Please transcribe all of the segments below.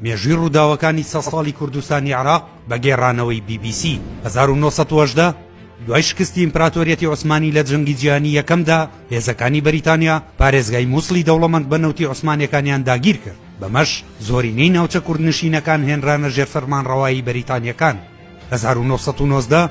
مێژووی ڕووداوەکانی سە ساڵی کوردستانی عراق بە گێڕانەوەی BBC 1970 دوای شکستی ئیمپراتۆریەتی عوسمانی لە جەنگی جیانی یەکەمدا هێزەکانی بەریتانیا پارێزگای مووسڵی دەوڵەمەند بە نەوتی عوسمانەکانیان داگیر کرد بەمەش زۆرینەی ناوچە کوردنشینەکان هێنرانە ژێر فەرمانڕەوایی بەریتانیەکان هەزار و نۆ سەد و نۆزدە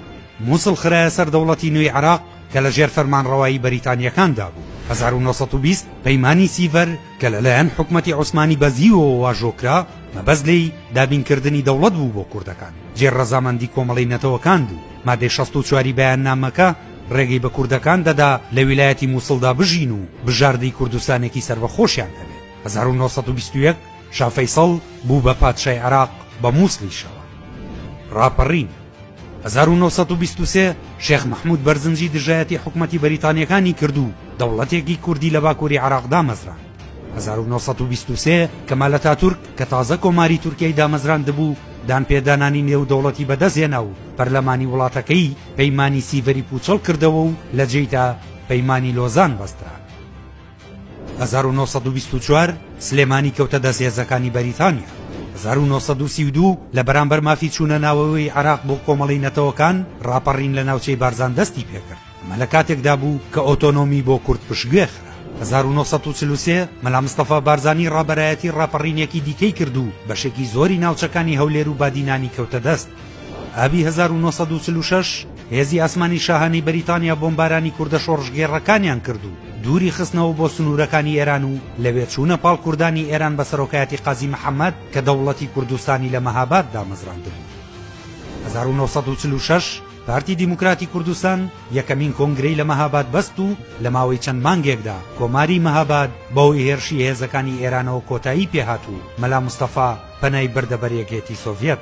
موسڵ خرایە سەر دەوڵەتی نوێی عێراق کە لە ژێر فەرمانڕەوایی بەریتانییەکاندا بوو هەزار و نۆ سەد و بیست پەیمانی سیڤەر کە لەلایەن حکومەتی عوسمانی بەزیوەوە واژۆ کرا مەبەست لێی دابینکردنی دەوڵەت بوو بۆ کوردەکان جێ ڕەزامەندی کۆمەڵی نەتەوەکان بوو مادەی شەست و چواری بەیاننامەکە ڕێگەی بە کوردەکان دەدا لە ویلایەتی مووسڵدا بژین و بژاردەی کوردستانێکی سەربەخۆشیان هەبێت هەزار و نۆ سەد و بیست و یەک شا فەیسەڵ بوو بە پادشای عێراق بە مووسڵیشەوە ڕاپەڕین. هەزار و نۆ سەد و بیست و سێ شێخ مەحموود بەرزنجی دژایەتی حکومەتی بەریتانییەکانی کرد و دەوڵەتێکی کوردی لە باکووری عێراق دامەزراند. هەزار و نۆ سەد و بیست و سێ کەمال ئەتاتورک کە تازە کۆماری تورکیای دامەزراندبوو، دانپێدانانی نێودەوڵەتی بەدەستهێنا و پەرلەمانی وڵاتەکەی پەیمانی سیڤەری پووچەڵ کردەوە و لە جێیدا پەیمانی لۆزان بەسترا. هەزار و نۆ سەد و بیست و چوار سلێمانی کەوتە دەست هێزەکانی بەریتانیا. هەزار و نۆ سەد و سی و دوو لە بەرامبەر مافی چوونە ناوەوەی عێراق بۆ کۆمەڵەی نەتەوەکان ڕاپەڕین لە ناوچەی بارزان دەستی پێکرد. ئەمە لە کاتێکدا بوو کە ئۆتۆنۆمی بۆ کورد پشتگوێ خرا. هەزار و نۆ سەد و چل و سێ مەلا مستەفا بارزانی ڕابەرایەتی ڕاپەڕینێکی دیکەی کرد و بەشێکی زۆری ناوچەکانی هەولێر و بادینانی کەوتە دەست. ئابی هەزار و نۆ سەد و چل و شەش هێزی ئاسمانی شاهانەی بەریتانیا بۆمبارانی کوردە شۆڕشگێڕەکانیان کرد و دووری خستنەوە بۆ سنوورەکانی ئێران و لەوێ چوونە پاڵ کوردانی ئێران بە سەرۆکایەتی قازی محەممەد کە دەوڵەتی کوردستانی لە مەهاباد دامەزراندبوو. هەزار و نۆ سەد و چل و شەش پارتی دیموکراتی کوردستان یەکەمین کۆنگرەی لە مەهاباد بەست و لە ماوەی چەند مانگێکدا کۆماری مەهاباد بەهۆی هێرشی هێزەکانی ئێرانەوە کۆتایی پێهات و مەلا مستەفا پەنای بردە بەر یەکێتی سۆڤیەت.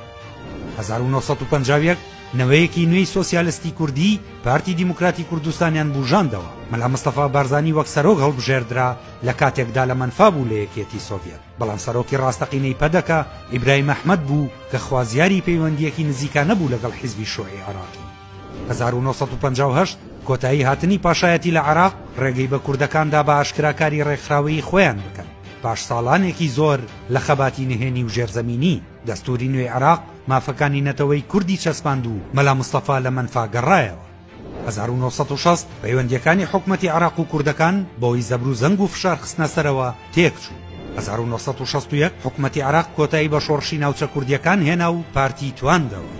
هەزار و نۆ سەد و پەنجا و یەک نەوەیەکی نوێی سۆسیالستی کوردی پارتی دیموکراتی کوردستانیان بوژاندەوە، مەلا مستەفا بارزانی وەک سەرۆک هەڵبژێردرا لە کاتێکدا لە مەنفا بوو لە یەکیەتی سۆڤیەت، بەڵام سەرۆکی ڕاستەقینەی پەدەکە ئیبراهیم ئەحمەد بوو کە خوازیاری پەیوەندییەکی نزیکانە بوو لەگەڵ حیزبی شوعی عێراقی. هەزار و نۆ سەد و پەنجا و هەشت کۆتایی هاتنی پاشایەتی لە عێراق ڕێگەی بە کوردەکان دا بە ئاشکرا کاری ڕێکخراوەیی خۆیان بکەن پاش ساڵانێکی زۆر لە خەباتی نهێنی و ژێرزەمینی، دەستووری نوێی عێراق مافەکانی نەتەوەی کوردی چەسپاند و مەلا مستەفا لە مەنفا گەڕایەوە هەزار و نۆ سەد و شەست پەیوەندییەکانی حکومەتی عێراق و کوردەکان بەوەی زەبر و زەنگ و فشار خستنە سەرەوە تێکچوو هەزار و نۆ سەد و شەست و یەک حکومەتی عێراق کۆتایی بە شۆڕشی ناوچە کوردییەکان هێنا و پارتی تواندەوە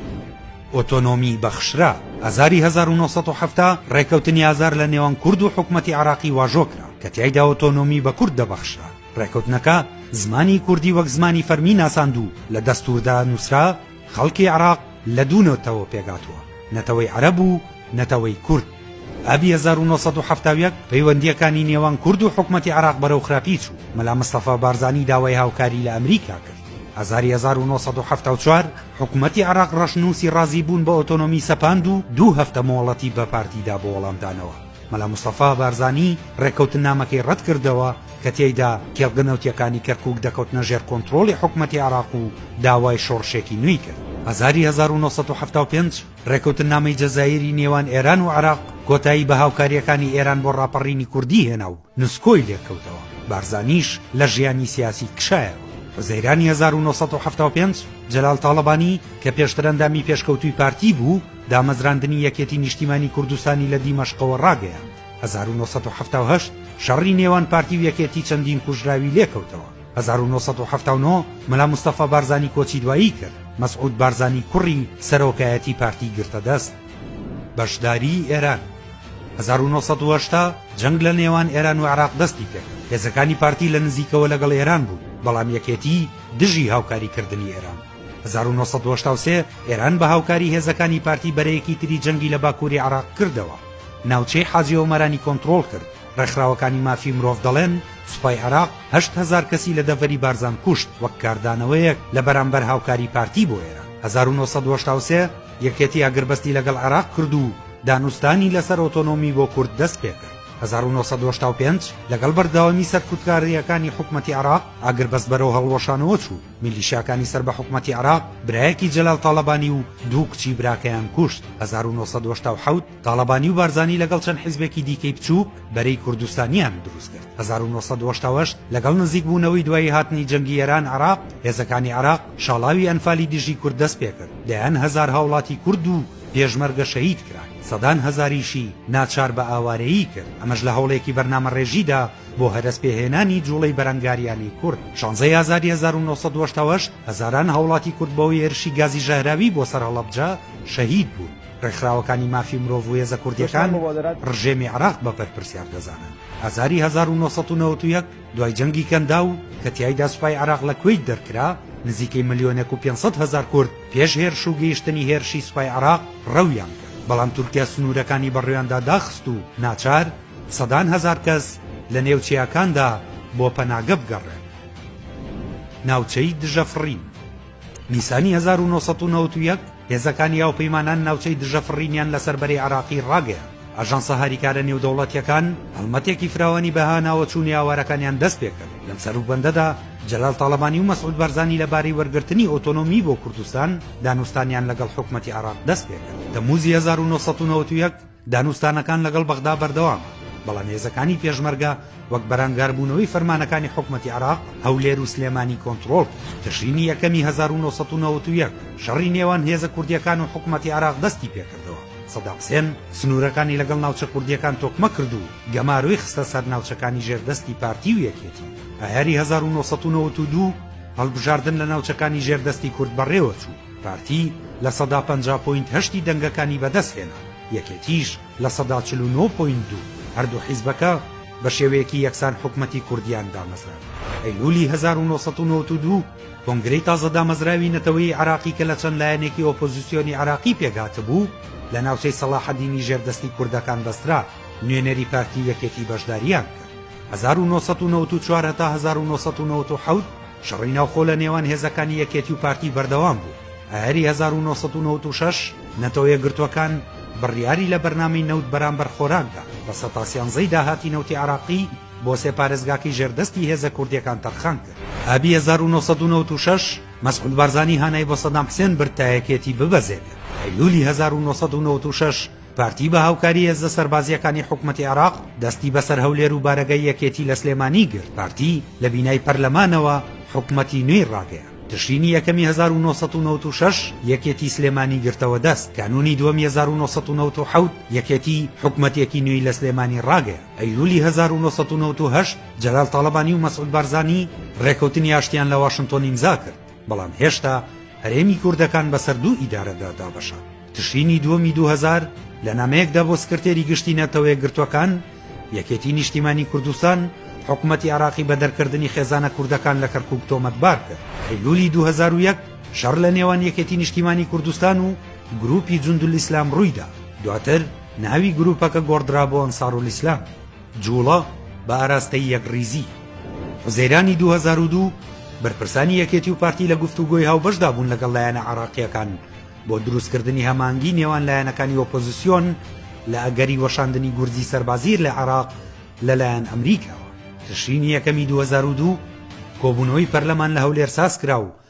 ئۆتۆنۆمی بەخشرا ئازاری هەزار و نۆ سەد و حەفتا ڕێکەوتنی ئازار لە نێوان کورد و حکومەتی عێراقی واژۆ کرا کە تیایدا ئۆتۆنۆمی بە کورد دەبەخشرا ڕێکەوتنەکە زمانی کوردی وەک زمانی فەرمی ناساند و لە دەستووردا نووسرا خەڵکی عێراق لە دوو نەتەوە پێکهاتووە، نەتەوەی عەرەب و نەتەوەی کورد. ئابی هەزار و نۆ سەد و حەفتا و یەک پەیوەندییەکانی نێوان کورد و حکومەتی عێراق بەرەو خراپی چوو، مەلا مستەفا بارزانی داوای هاوکاری لە ئەمریکا کرد. ئازاری هەزار و نۆ سەد و حەفتا و چوار حکومەتی عێراق ڕەشنووسی ڕازیبوون بە ئۆتۆنۆمی سەپاند و دوو هەفتە مۆڵەتی بە پارتی دا بۆ وەڵامدانەوە. مەلا مستەفا بارزانی ڕێککەوتننامەکەی ڕەتکردەوە کە تێیدا کێڵگە نەوتییەکانی کەرکووک دەکەوتنە ژێر کۆنترۆڵی حکومەتی عێراق و داوای شۆڕشێکی نوێی کرد. ئازاری هەزار و نۆ سەد و حەفتا و پێنج ڕێککەوتننامەی جەزائیری نێوان ئێران و عێراق کۆتایی بە هاوکارییەکانی ئێران بۆ ڕاپەڕینی کوردی هێنا و نسکۆی لێکەوتەوە، بارزانیش لە ژیانی سیاسی کشایەوە. حوزەیرانی هەزار و نۆ سەد و حەفتا و پێنج، جەلال تاڵەبانی کە پێشتر ئەندامی پێشکەوتووی پارتی بوو، دامەزراندنی یەکێتی نیشتیمانی کوردستانی لە دیمەشقەوە ڕاگەیاند. هەزار و نۆ سەد و حەفتا و هەشت، شەڕی نێوان پارتی و یەکێتی چەندین کوژراوی لێکەوتەوە. هەزار و نۆ سەد و حەفتا و نۆ، مەلا مستەفا بارزانی کۆچی دوایی کرد، مەسعود بارزانی کوڕی سەرۆکایەتی پارتی گرتە دەست. بەشداریی ئێران هەزار و نۆ سەد و هەشتا جەنگ لە نێوان ئێران و عێراق دەستی کرد هێزەکانی پارتی لە نزیکەوە لەگەڵ ئێران بوون بەڵام یەکێتی دژی هاوکاریکردنی ئێران بوو هەزار و نۆ سەد و هەشتا و سێ ئێران بە هاوکاری هێزەکانی پارتی بەرەیەکی تری جەنگی لە باکووری عێراق کردەوە ناوچەی حاجی ئۆمەرانی کۆنترۆڵ کرد ڕێکخراوەکانی مافی مرۆڤ دەڵێن سوپای عێراق هەشت هەزار کەسی لە دەڤەری بارزان کوشت وەک کاردانەوەیەک لە بەرامبەر هاوکاری پارتی بۆ ئێران هەزار و نۆ سەد و هەشتا و سێ یەکێتی ئاگربەستی لەگەڵ عێراق کرد و دانوستانی لەسەر ئۆتۆنۆمی بۆ کورد دەستپێکرد. هەزار و نۆ سەد و هەشتا و پێنج لەگەڵ بەردەوامی سەرکوتکارییەکانی حکومەتی عێراق، ئاگربەست بەرەو هەڵوەشانەوە چوو، میلیشیاکانی سەر بە حکومەتی عێراق برایەکی جەلال تاڵەبانی و دوو کچی براکەیان کوشت، هەزار و نۆ سەد و هەشتا و حەوت. تاڵەبانی و بارزانی لەگەڵ چەند حیزبێکی دیکەی بچووک بەرەی کوردستانیان دروست کرد هەزار و نۆ سەد و هەشتا و هەشت لەگەڵ نزیک بوونەوەی دوایی هاتنی جەنگی ئێران عێراق هێزەکانی عێراق شاڵاوی ئەنفالی دژی کورد دەست پێکرد دەیان هەزار هاوڵاتی کورد و پێشمەرگە شەهید کران سەدان هەزاریشی ناچار بە ئاوارەیی کرد ئەمەش لە هەوڵێکی بەرنامەڕێژیدا بۆ هەرەس پێهێنانی جوڵەی بەرەنگاریانی کورد شانزەی ئازادی هەزار و نۆ سەد و هەشتا و هەشت هەزاران هاوڵاتی کورد بەوەی هێرشی گازی ژەهراوی بۆ سەر هەڵەبجە شەهید بوون ڕێکخراوەکانی مافی مرۆڤ و هێزە کوردییەکان ڕژێمی عراق بە بەرپرسیار دەزانن. ئازاری 1991 دوای جەنگی کەنداو کە تیایدا سوپای عراق لە کوەیت دەرکرا، نزیکەی ملیۆنێک و پێنج سەد هەزار کورد پێش هێرش و گەیشتنی هێرشی سوپای عراق ڕەویان کرد، بەڵام تورکیا سنوورەکانی بەڕویاندا داخست و ناچار سەدان هەزار کەس لە نێو چیاکاندا بۆ پەناگە بگەڕێن. ناوچەی دژەفڕین. نیسانی هەزار و نۆ سەد و نەوەد و یەک هێزەکانی هاوپەیمانان ناوچەی دژە فڕینیان لەسەر بەرەی عێراقی ڕاگەیاند. ئاژانسە هاریکارە نێودەوڵەتییەکان هەڵمەتێکی فراوانی بە هاناوە چوونی ئاوارەکانیان دەست پێ کرد. لەم سەروبەندەدا جەلال تاڵەبانی و مەسعود بارزانی لەبارەی وەرگرتنی ئۆتۆنۆمی بۆ کوردستان دانوستانیان لەگەڵ حکومەتی عێراق دەست پێ کرد. تەمموزی هەزار و نۆ سەد و نەوەد و یەک، دانوستانەکان لەگەڵ بەغدا بەردەوامە، بەڵام هێزەکانی پێشمەرگە وەک بەرەنگاربوونەوەی فەرمانەکانی حکومەتی عێراق، هەولێر و سلێمانی کۆنتڕۆڵ کرد. تشرینی یەکەمی هەزار و نۆ سەد و نەوەد و یەک شەڕی نێوان هێزە کوردییەکان و حکومەتی عێراق دەستی پێکردەوە، سەدام حسێن سنوورەکانی لەگەڵ ناوچە کوردییەکان تۆکمە کرد و گەمارۆی خستە سەر ناوچەکانی ژێر دەستی پارتی و یەکێتی. ئایاری هەزار و نۆ سەد و نەوەد و دوو هەڵبژاردن لە ناوچەکانی ژێر دەستی کورد بەڕێوەچوو. پارتی لە سەدا پەنجا پۆینت هەشتی دەنگەکانی بەدەستهێنا، یەکێتیش لە سەدا چل و نۆ پۆینت دوو، هەردوو حیزبەکە بە شێوەیەکی یەکسان حکومەتی کوردیان دامەزراند. ئەیلولی هەزار و نۆ سەد و نەوەد و دوو، کۆنگرەی تازە دامەزراوی نەتەوەیی عێراقی کە لە چەند لایەنێکی ئۆپۆزیسیۆنی عێراقی پێکهاتبوو، لە ناوچەی سەڵاحەدینی ژێر دەستی کوردەکان بەسترا، نوێنەری پارتی و یەکێتی بەشدارییان کرد. هەزار و نۆ سەد و نەوەد و چوار هەتا هەزار و نۆ سەد و نەوەد و حەوت، شەڕی ناوخۆ لە نێوان هێزەکانی یەکێتی و پارتی بەردەوام بوو، ئایاری هەزار و نۆ سەد و نەوەد و شەش نەتەوە یەکگرتووەکان بڕیاری لە بەرنامەی نەوت بەرامبەر خۆراک دا، بە سەتا سیانزەی داهاتی نەوتی عێراقی بۆ سێ پارێزگاکەی ژێر دەستی هێزە کوردییەکان تەرخان کرد. ئابی هەزار و نۆ سەد و نەوەد و شەش مەسعود بارزانی هانای بۆ سەدام حسێن برد تا یەکێتی ببەزێنێت، ئەیلولی هەزار و نۆ سەد و نەوەد و شەش پارتی بە هاوکاری هێزە سەربازییەکانی حکومەتی عێراق دەستی بەسەر هەولێر و بارەگای یەکێتی لە سلێمانی گرت پارتی لە بینای پەرلەمانەوە حکومەتی نوێی ڕاگەیان تشرینی یەکەمی 1996 یەکێتی سلێمانی گرتەوە دەست کانونی دووەمی 1990 یەکێتی حکومەتێکی نوێی لە سلێمانی ڕاگەیە ئەیلولی 1990 جەلال تاڵەبانی و مەسعود بارزانی ڕێکەوتنی ئاشتیان لە واشنتۆن ئیمزا کرد بەڵام هێشتا هەرێمی کوردەکان بەسەر دوو ئیدارەدا دابەشە. تشرینی دووەمی دوو هەزار لە نامەیەکدا بۆ سکرتێری گشتی نەتەوە یەکگرتووەکان، یەکێتی نیشتیمانی کوردستان حکومەتی عێراقی بە دەرکردنی خێزانە کوردەکان لە کەرکووک تۆمەتبار کرد. ئەیلوولی دوو هەزار و یەک شەڕ لە نێوان یەکێتی نیشتیمانی کوردستان و گرووپی جوندولئیسلام ڕوویدا، دواتر ناوی گرووپەکە گۆڕدرا بۆ ئەنسارولئیسلام. جوڵە بە ئاراستەی یەکڕیزی. حوزەیرانی دوو هەزار و دوو، بەرپرسانی یەکێتی و پارتی لە گفتوگۆی هاوبەشدا بوون لەگەڵ لایەنە عێراقییەکان بۆ دروستکردنی هەمانگی نێوان لایەنەکانی ئۆپۆزیسیۆن لە ئەگەری وەشاندنی گورزی سەربازیر لە عێراق لەلایەن ئەمریکاوە. تشرینی یەکەمی دوو هەزار و دوو، کۆبوونەوەی پەرلەمان لە هەولێر سازکرا و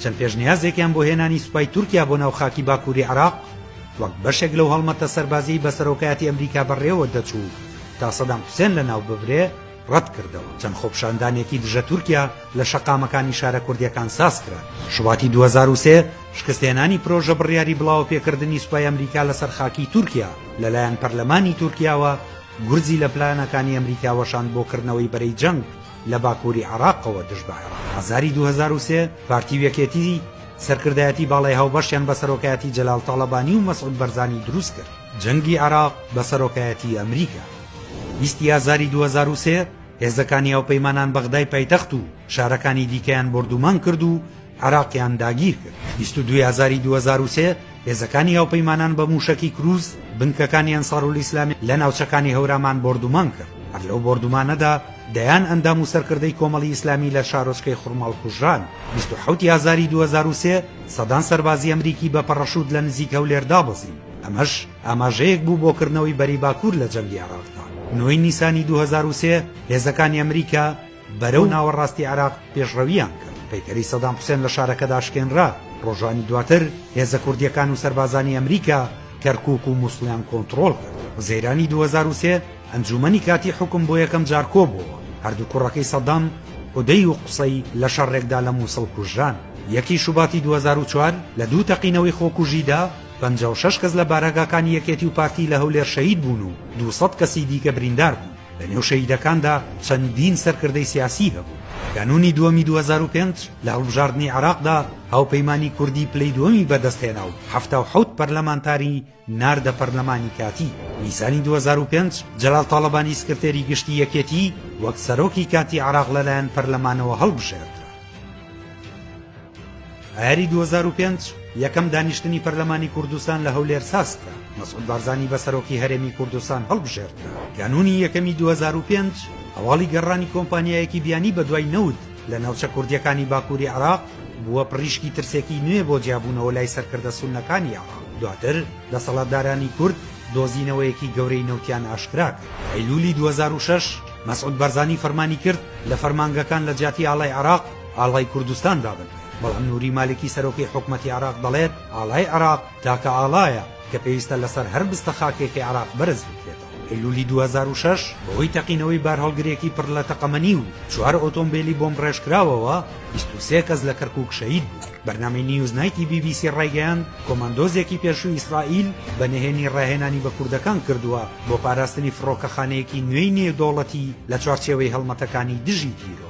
چەند پێشنیازێکیان بۆ هێنانی سوپای تورکیا بۆ ناو خاکی باکووری عێراق وەک بەشێک لەو هەڵمەتە سەربازیی بە سەرۆکایەتی ئەمریکا بەڕێوە دەچوو تا سەدام حوسێن لەناو ببرێ، ڕەت کردەوە. چەند خۆپیشاندانێکی دژە تورکیا لە شەقامەکانی شارە کوردییەکان ساز کران. شوباتی دوو هەزار و سێ، شکستهێنانی پرۆژە بڕیاری بڵاوەپێکردنی سوپای ئەمریکا لەسەر خاکی تورکیا لەلایەن پەرلەمانی تورکیاوە، گورزی لە پلانەکانی ئەمریکا وەشاند بۆ کردنەوەی بەرەی جەنگ. لە باکووری عێراقەوە دژ بە عێراق. ئازاری دوو هەزار و سێ، پارتی و یەکێتی سەرکردایەتی باڵای هاوبەشیان بە سەرۆکایەتی جەلال تاڵەبانی و مەسعود بەرزانی دروست کرد. جەنگی عێراق بە سەرۆکایەتی ئەمریکا. بیست ی ئازاری دوو هەزار و سێ، هێزەکانی هاوپەیمانان بەغدای پایتەخت و شارەکانی دیکەیان بۆردومان کرد و عێراقیان داگیر کرد. بیست و دوو ی ئازاری دوو هەزار و سێ، هێزەکانی هاوپەیمانان بە مووشەکی کرووز بنکەکانی ئەنسارولئیسلامی لە ناوچەکانی هەورامان بۆردومان کرد، هەر لەو بۆردومانەدا دەیان ئەندام و سەرکردەی کۆمەڵی ئیسلامی لە شارۆچکەی خورماڵ کوژران. بیست و حەوت ی ئازاری دوو هەزار و سێ سەدان سەربازی ئەمریکی بە پەڕەشووت لە نزیک هەولێر دابەزین، ئەمەش ئاماژەیەک بوو بۆ کردنەوەی بەرەی باکوور لە جەنگی عێراقدا. نۆ ی نیسانی دوو هەزار و سێ هێزەکانی ئەمریکا، بەرەو ناوەڕاستی عێراق پێشڕەوییان کرد، پەیکەری سەدام حوسێن لە شارەکەدا شکێنرا، ڕۆژانی دواتر هێزە کوردییەکان و سەربازانی ئەمریکا کەرکووک و مووسڵیان کۆنتڕۆڵ کرد. حوزەیرانی دوو هەزار و سێ ئەنجوومەنی کاتیی حوکم بۆ یەکەم جار کۆبووەوە، هەردوو کوڕەکەی سەدام، حودەی و قوسەی، لە شەڕێکدا لە مووسڵ کوژران. یەکی شوباتی دوو هەزار و چوار لە دوو تەقینەوەی خۆکوژیدا پەنجا و شەش کەس لە بارەگاکانی یەکێتی و پارتی لە هەولێر شەهید بوون و دوو سەد کەسی دیکە بریندار بوون. لە نێو شەهیدەکاندا چەندین سەرکردەی سیاسی هەبوو. کانوونی دووەمی دوو هەزار و پێنج لە هەڵبژاردنی عێراقدا هاوپەیمانی کوردی پلەی دووەمی بەدەستهێنا و حەفتا و حەوت پەرلەمانتاری ناردە پەرلەمانی کاتی. نیسانی دوو هەزار و پێنج جەلال تاڵەبانی سکرتێری گشتی یەکێتی وەک سەرۆکی کاتی عێراق لەلایەن پەرلەمانەوە هەڵبژێردرا. ئایاری دوو هەزار و پێنج یەکەم دانیشتنی پەرلەمانی کوردستان لە هەولێر سازکرا، مەسعود بارزانی بە سەرۆکی هەرێمی کوردستان هەڵبژێردرا، کانوونی یەکەمی دوو هەزار و پێنج هەواڵی گەڕانی کۆمپانیایەکی بیانی بەدوای نەوت لە ناوچە کوردییەکانی باکووری عێراق بووە پڕیشکی ترسێکی نوێ بۆ جیابوونەوە لای سەرکردە سوننەکانی عێراق، دواتر دەسەڵاتدارانی کورد دۆزینەوەیەکی گەورەی نەوتیان ئاشکرا کرد. ئەیلوولی دوو هەزار و شەش مەسعود بارزانی فەرمانی کرد لە فەرمانگەکان لە جیاتی ئاڵای عێراق ئاڵای کوردستان دابنرێت، بەڵام نوری مالکی سەرۆکی حکومەتی عێراق دەڵێت، ئاڵای عێراق تاکە ئاڵایە کە پێویستە لەسەر هەر بستە خاکێکی عێراق بەرز بکرێتەوە. ئەیلولی دوو هەزار و شەش بەهۆی تەقینەوەی بارهەڵگرێکی پڕ لە تەقەمەنی و چوار ئۆتۆمبێلی بۆمبڕێژکراوەوە بیست و سێ کەس لە کەرکوک شەهید بوون. بەرنامەی نیوز نایتی بی بی سی ڕایگەیاند، کۆماندۆزێکی پێشووی ئیسرائیل بە نهێنی ڕاهێنانی بە کوردەکان کردووە بۆ پاراستنی فڕۆکەخانەیەکی نوێی نێودەوڵەتی لە چوارچێوەی هەڵمەتەکانی دژی تیرۆر.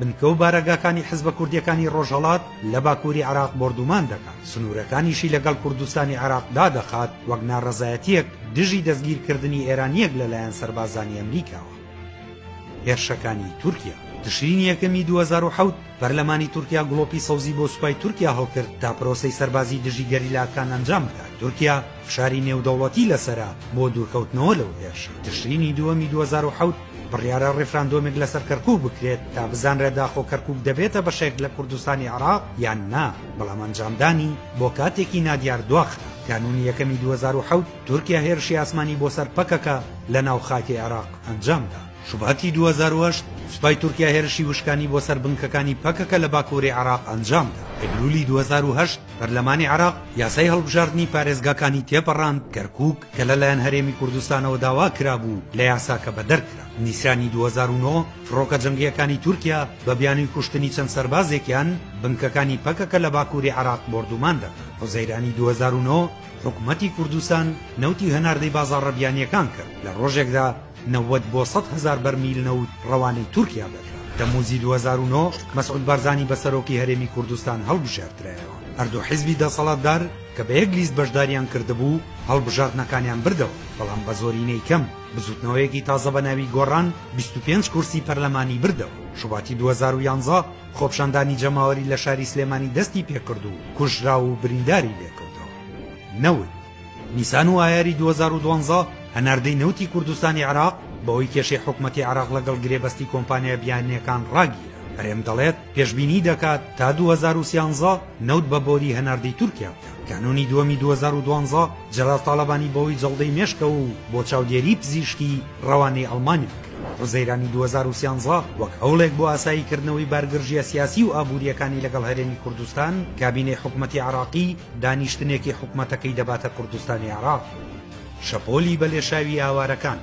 بنکە و بارەگاکانی حزبە کوردییەکانی ڕۆژهەڵات لە باکووری عێراق بۆردوومان دەکات، سنوورەکانیشی لەگەڵ کوردستانی عێراق دادەخات، وەک ناڕەزایەتییەک دژی دەستگیرکردنی ئێرانییەک لەلایەن سەربازانی ئەمریکاوە. هێرشەکانی تورکیا. تشرینی یەکەمی دوو هەزار و حەوت، پەرلەمانی تورکیا گڵۆپی سەوزی بۆ سوپای تورکیا هەڵکرد تا پرۆسەی سەربازی دژی گەریلاکان ئەنجام بدات، تورکیا فشاری نێودەوڵەتی لەسەرە بۆ دوورکەوتنەوە لەو هێرشە. تشرینی دووەمی دوو هەزار و حەوت، بڕیارە ڕیفراندۆمێک لەسەر کەرکوک بکرێت تا بزانرێت داخۆ کەرکوک دەبێتە بەشێک لە کوردستانی عراق یان نا بەڵام ئەنجامدانی بۆ کاتێکی نادیار دواخرا کانونی یەکەمی 2007 تورکیا هێرشی ئاسمانی بۆ سەر پەکەکە لە ناو خاکی عێراق ئەنجامدا شوباتی 2008 سوپای تورکیا هێرشی وشکانی بۆ سەر بنکەکانی پەکەکە لە باکووری عراق ئەنجامدا ئەیلولی 2010 پەرلەمانی عراق یاسای هەڵبژاردنی پارێزگاکانی تێپەڕاند کەرکک کە لەلایەن هەرێمی کوردستانەوە داوا کرابوو لە یاساکە بەدەر کرا. نیسانی دوو هەزار و نۆ فڕۆکە جەنگییەکانی تورکیا بە بیانووی کوشتنی چەند سەربازێکیان، بنکەکانی پەکەکە لە باکووری عێراق بۆردومان دەکەن. حوزەیرانی دوو هەزار و نۆ حکومەتی کوردستان نەوتی هەناردەی بازاڕە بیانییەکان کرد، لە ڕۆژێکدا، نەوەد بۆ سەد هەزار بەرمیل نەوت ڕەوانەی تورکیا دەکرا. تەمووزی دوو هەزار و نۆ مەسعود بارزانی بە سەرۆکی هەرێمی کوردستان هەڵبژێردرایەوە. هەردوو حیزبی دەسەڵاتدار کە بە یەک لیست بەشداریان کردبوو، هەڵبژاردنەکانیان بردەوە، بەڵام بە زۆرینەی کەم. بزووتنەوەیەکی تازە بە ناوی گۆڕان بیست و پێنج کورسی پەرلەمانی بردەوە. شوباتی دوو هەزار و یانزە خۆپشاندانی جەماوەری لە شاری سلێمانی دەستی پێکرد و کوژراو و برینداری لێکەوتەوە. نەوت. نیسان و ئایاری دوو هەزار و دوازدە هەناردەی نەوتی کوردستانی عێراق بەهۆی کێشەی حکومەتی عێراق لەگەڵ گرێبەستی کۆمپانیا بیانییەکان ڕاگیرا هەرێم دەڵێت پێشبینی دەکات تا دوو هەزار و سیانزە نەوت بە بۆری هەناردەی تورکیا بکات کانونی دووەمی دوو هەزار و دوازدە جەلال تاڵەبانی بەهۆی جەڵدەی مێشکەوە و بۆ چاودێری پزیشکی ڕەوانەی ئەڵمانیا کرا حوزەیرانی دوو هەزار و سیانزە وەک هەوڵێک بۆ ئاساییکردنەوەی بارگرژییە سیاسی و ئابوورییەکانی لەگەڵ هەرێمی کوردستان کابینەی حکومەتی عێراقی دانیشتنێکی حکومەتەکەی دەباتە کوردستانی عێراق، شەپۆلی بەلێشاوی ئاوارەکان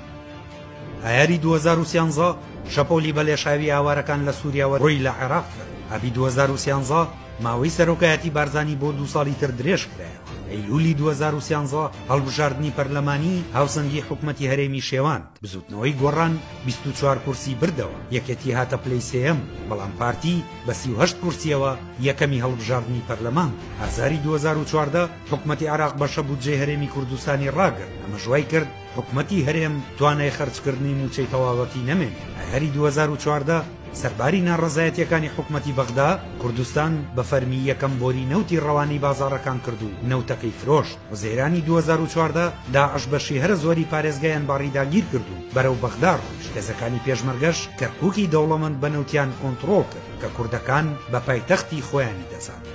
ئایاری دوو هەزار و سیانزە شەپۆلی بەلێشاوی ئاوارەکان لە سووریاوە ڕووی لە عێراق کرد، ئابی دوو هەزار و سیانزە ماوەی سەرۆکایەتی بارزانی بۆ دوو ساڵی تر درێژ کرایەوە، ئەیلوولی دوو هەزار و سیانزە هەڵبژاردنی پەرلەمانی، هاوسەنگی حکومەتی هەرێمی شێوان. بزوتنەوەی گۆڕان بیست و چوار کورسی بردەوە، یەکێتی هاتە پلەی سێیەم، بەڵام پارتی بە سی و هەشت کورسییەوە یەکەمی هەڵبژاردنی پەرلەمان بوو. ئازاری دوو هەزار و چواردە حکومەتی عێراق بەشە بودجەی هەرێمی کوردستانی ڕاگرت، ئەمەش وای کرد حکومەتی هەرێم توانای خەرجکردنی مووچەی تەواوەتی نەمێنێت. ئایاری دوو هەزار و چواردە سەرباری ناڕەزایەتییەکانی حکومەتی بەغدا، کوردستان بە فەرمی یەکەم بۆری نەوتی ڕەوانەی بازاڕەکان کرد و نەوتەکەی فرۆشت. حوزەیرانی دوو هەزار و چواردە، داعش بەشی هەرە زۆری پارێزگایان باڕی داگیرکرد و بەرەو بەغدا ڕۆیشت، هێزەکانی پێشمەرگەش کەرکووکی دەوڵەمەند بە نەوتیان کۆنتڕۆڵ کرد کە کوردەکان بە پایتەختی خۆیانی دەزانن.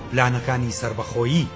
پلانەکانی سەربەخۆیی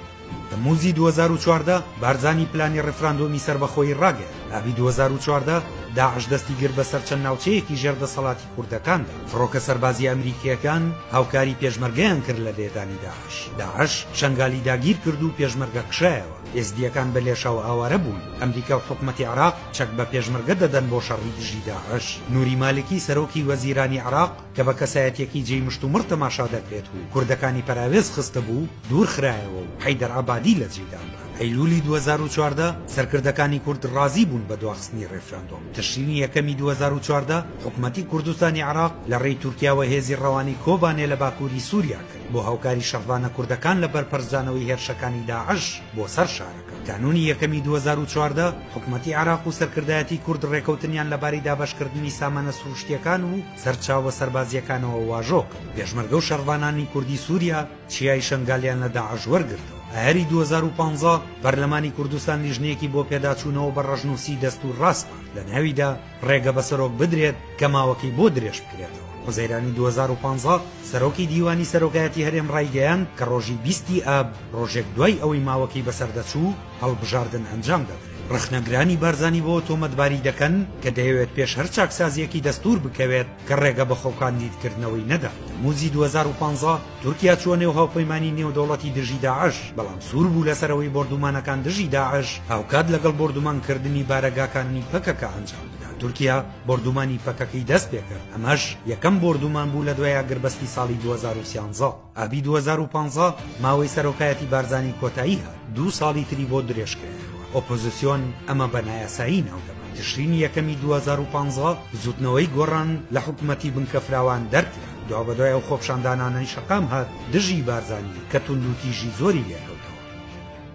تەممووزی دوو هەزار و چواردە، بارزانی پلانی ڕیفراندۆمی سەربەخۆیی ڕاگەیاند ئابی دوو هەزار و چواردە، داعش دەستی گرت بەسەر چەند ناوچەیەکی ژێر دەسەڵاتی، کوردەکاندا. فڕۆکە سەربازییە ئەمریکییەکان هاوکاری پێشمەرگەیان کرد لە لێدانی داعش. داعش شەنگالی داگیر کرد و پێشمەرگە کشایەوە. ئێزدییەکان بە لێشاو ئاوارە بوون. ئەمریکا و حکومەتی عێراق چەک بە پێشمەرگە دەدەن بۆ شەڕی دژی داعش. نوری مالکی سەرۆکی وەزیرانی عێراق کە بە کەسایەتییەکی جێی مشتومڕ تەماشا دەکرێت و کوردەکانی پەراوێز خستبوو، دوور خرایەوە و حەیدەر عەبادی لە جێی دانرا. ئەیلوولی دوو هەزار و چواردە سەرکردەکانی کورد ڕازی بوون بە دواخستنی ڕێفراندۆم. تشرینی یەکەمی دوو هەزار و چواردە حکومەتی کوردستانی عێراق لە ڕێی تورکیاوە هێزی ڕەوانەی کۆبانێ لە باکووری سووریا کرد بۆ هاوکاری شەڕڤانە کوردەکان لە بەرپەرچدانەوەی هێرشەکانی داعش بۆ سەر شارەکە. کانوونی یەکەمی دوو هەزار و چواردە حکومەتی عێراق و سەرکردایەتی کورد ڕێکەوتنیان لە باری دابەشکردنی سامانە سرووشتییەکان و سەرچاوە سەربازییەکانەوە واژۆ کرد. پێشمەرگە و شەڕڤانانی کوردی سووریا، چیای شەنگالیان لە داعش وەرگرتەوە. ئایاری دوو هەزار و پازدە پەرلەمانی کوردستان لیژنەیەکی بۆ پێداچوونەوە بە ڕەشنووسی دەستوور ڕاسپارد لە ناویدا ڕێگە بە سەرۆک بدرێت کە ماوەکەی بۆ درێژ بکرێتەوە. حوزەیرانی دوو هەزار و پازدە سەرۆکی دیوانی سەرۆکایەتی هەرێم ڕایگەیاند کە ڕۆژی بیست ی ئاب ڕۆژێک دوای ئەوەی ماوەکەی بەسەردەچوو هەڵبژاردن ئەنجام دەدرێت. ڕەخنەگرانی بارزانی بەوە تۆمەتباری دەکەن کە دەیەوێت پێش هەر چاکسازییەکی دەستوور بکەوێت، کە ڕێگە بە خۆکاندیدکردنەوەی نەدات. تەمموزی دوو هەزار و پازدە تورکیا چووە نێو هاوپەیمانی نێودەوڵەتی دژی داعش، بەڵام سوور بوو لەسەرەوەی بۆردوومانەکان دژی داعش هاوکات لەگەڵ بۆردوومانکردنی بارەگاکانی پەکەکە ئەنجام بدات، تورکیا بۆردوومانی پەکەکەی دەستپێکرد، ئەمەش یەکەم بۆردوومان بوو لە دوای ئاگربەستی ساڵی دوو هەزار و سیانزە. ئابی دوو هەزار و پازدە ماوەی سەرۆکایەتی بارزانی کۆتایی هات دوو ساڵی تری بۆ درێژ کرایەوە ئۆپۆزیسیۆن ئەمە بە نایاسایی ناودەبات تشرینی یەکەمی دوو هەزار و پازدە بزووتنەوەی گۆڕان لە حکوومەتی بنکەفراوان دەرکرا دوابەدوای ئەو خۆپشاندانانەی شەقام هات دژی بارزانی کە توندوتیژی زۆری لێکەوتەوە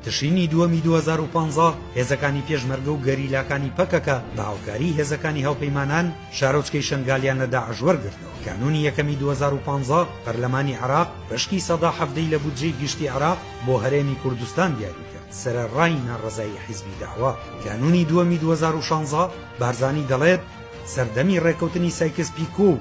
تشرینی دووەمی دوو هەزار و پازدە هێزەکانی پێشمەرگە و گەریلاکانی پەکەکە بە هاوکاری هێزەکانی هاوپەیمانان شارۆچکەی شەنگالیان لە داعش وەرگرتەوە کانوونی یەکەمی دوو هەزار و پازدە پەرلەمانی عێراق بەشکی سەدا حەڤدەی لە بودجەی گشتی عێراق بۆ هەرێمی کوردستان دیاری کرد سەرەڕای ناڕەزایی حیزبی دەعوە کانوونی دووەمی دوو هەزار و شازدە بارزانی دەڵێت سەردەمی ڕێکەوتنی سایکس پیکۆ و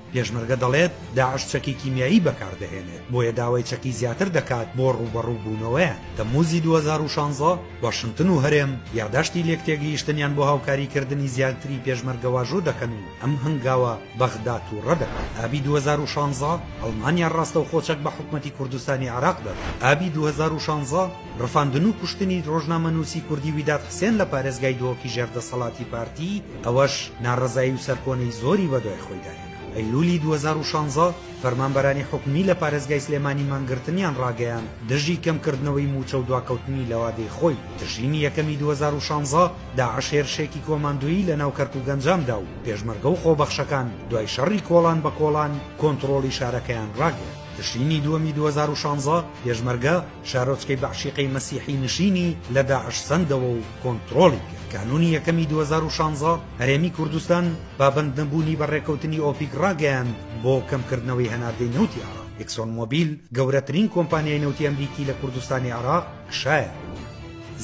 پێشمەرگە دەڵێت، داعش چەکی کیمیایی بەکاردەهێنێت، بۆیە داوای چەکی زیاتر دەکات بۆ ڕووبەڕووبوونەوەیان. تەممووزی دوو هەزار و شانزە، واشنتن و هەرێم یاداشتی لێکتێگەیشتنیان بۆ هاوکاریکردنی زیاتری پێشمەرگە واژۆ دەکەن و ئەم هەنگاوە بەغدا تووڕە دەکات. ئابی دوو هەزار و شانزە، ئەڵمانیا ڕاستەوخۆ چەک بە حکومەتی کوردستانی عێراق دەدات. ئابی دوو هەزار و شانزە، ڕفاندن و کوشتنی ڕۆژنامەنووسی کوردی ویداد حسێن لە پارێزگای دهۆکی ژێر دەسەڵاتی پارتی، ئەوەش ناڕەزایی و سەرکۆنەی زۆری بەدوای خۆیدا هێنا. ئەیلوولی دوو هەزار و شانزە، فەرمانبەرانی حکومی لە پارێزگای سلێمانی مانگرتنیان ڕاگەیاند دژی کەمکردنەوەی مووچە و دواکەوتنی لە وادەی خۆی. تشرینی یەکەمی دوو هەزار و شانزە، داعش هێرشێکی کۆماندۆیی لە ناو کەرکوک ئەنجام دا و پێشمەرگە و خۆبەخشەکان دوای شەڕی کۆڵان بە کۆڵان کۆنتڕۆڵی شارەکەیان ڕاگرت. تشرینی دووەمی دوو هەزار و شانزە، پێشمەرگە، شارۆچکەی بەعشیقەی مەسیحی نشینی لە داعش سەندەوە و کۆنتڕۆڵی کرد. کانوونی یەکەمی دوو هەزار و شانزە، هەرێمی کوردستان پابەندنەبوونی بە ڕێککەوتنی ئۆپیک ڕاگەیاند بۆ کەمکردنەوەی هەناردەی نەوتی عێراق. ئیکسۆن مۆبیل، گەورەترین کۆمپانیای نەوتی ئەمریکی لە کوردستانی عێراق کشایەوە.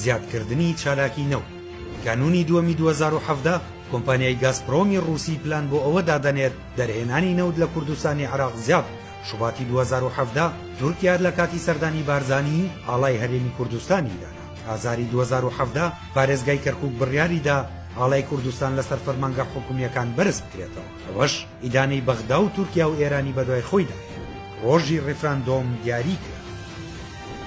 زیادکردنی چالاکی نەوت. کانوونی دووەمی دوو هەزار و حەڤدە، کۆمپانیای گازپرۆمی ڕووسی پلان بۆ ئەوە دادەنێت دەرهێنانی نەوت لە کوردستانی عێراق زیاد بکات. شوباتی دوو هەزار و حەڤدە، تورکیا لە کاتی سەردانی بارزانی، ئاڵای هەرێمی کوردستانی دانا. ئازاری دوو هەزار و حەڤدە، پارێزگای کەرکووک بڕیاری دا ئاڵای کوردستان لەسەر فەرمانگە حکومییەکان بەرز بکرێتەوە. ئەوەش ئیدانەی بەغدا و تورکیا و ئێرانی بەدوای خۆیدا هێنا. ڕۆژی ڕیفراندۆم دیاری کرا.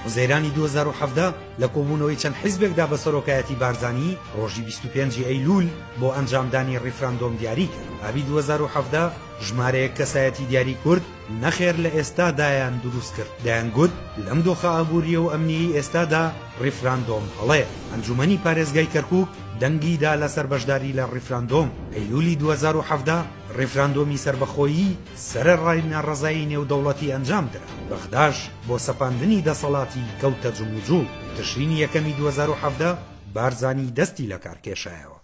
حوزەیرانی دوو هەزار و حەڤدە، لە کۆبوونەوەی چەند حیزبێکدا بە سەرۆکایەتی بارزانی، ڕۆژی بیست و پێنج ی ئەیلوول بۆ ئەنجامدانی ڕیفراندۆم دیاری کرا. ئابی دوو هەزار و حەڤدە، ژمارەیەک کەسایەتی دیاری کورد نەخێر لە ئێستا دایان دروست کرد دەیان گوت لەم دۆخە ئابوریە و ئەمنیەی ئێستادا ڕیفراندۆم هەڵەیە ئەنجومەنی پارێزگای کەرکوک دەنگی دا لەسەر بەشداری لە ڕیفراندۆم ئەیلولی دوو هەزار و حەڤدە ڕیفراندۆمی سەربەخۆیی سەرەڕای ناڕەزایی نێودەوڵەتی ئەنجام درا بەغداش بۆ سەپاندنی دەسەڵاتی کەوتە جموجوڵ تشرینی یەکەمی دوو هەزار و حەڤدە بارزانی دەستی لەکار کێشایەوە.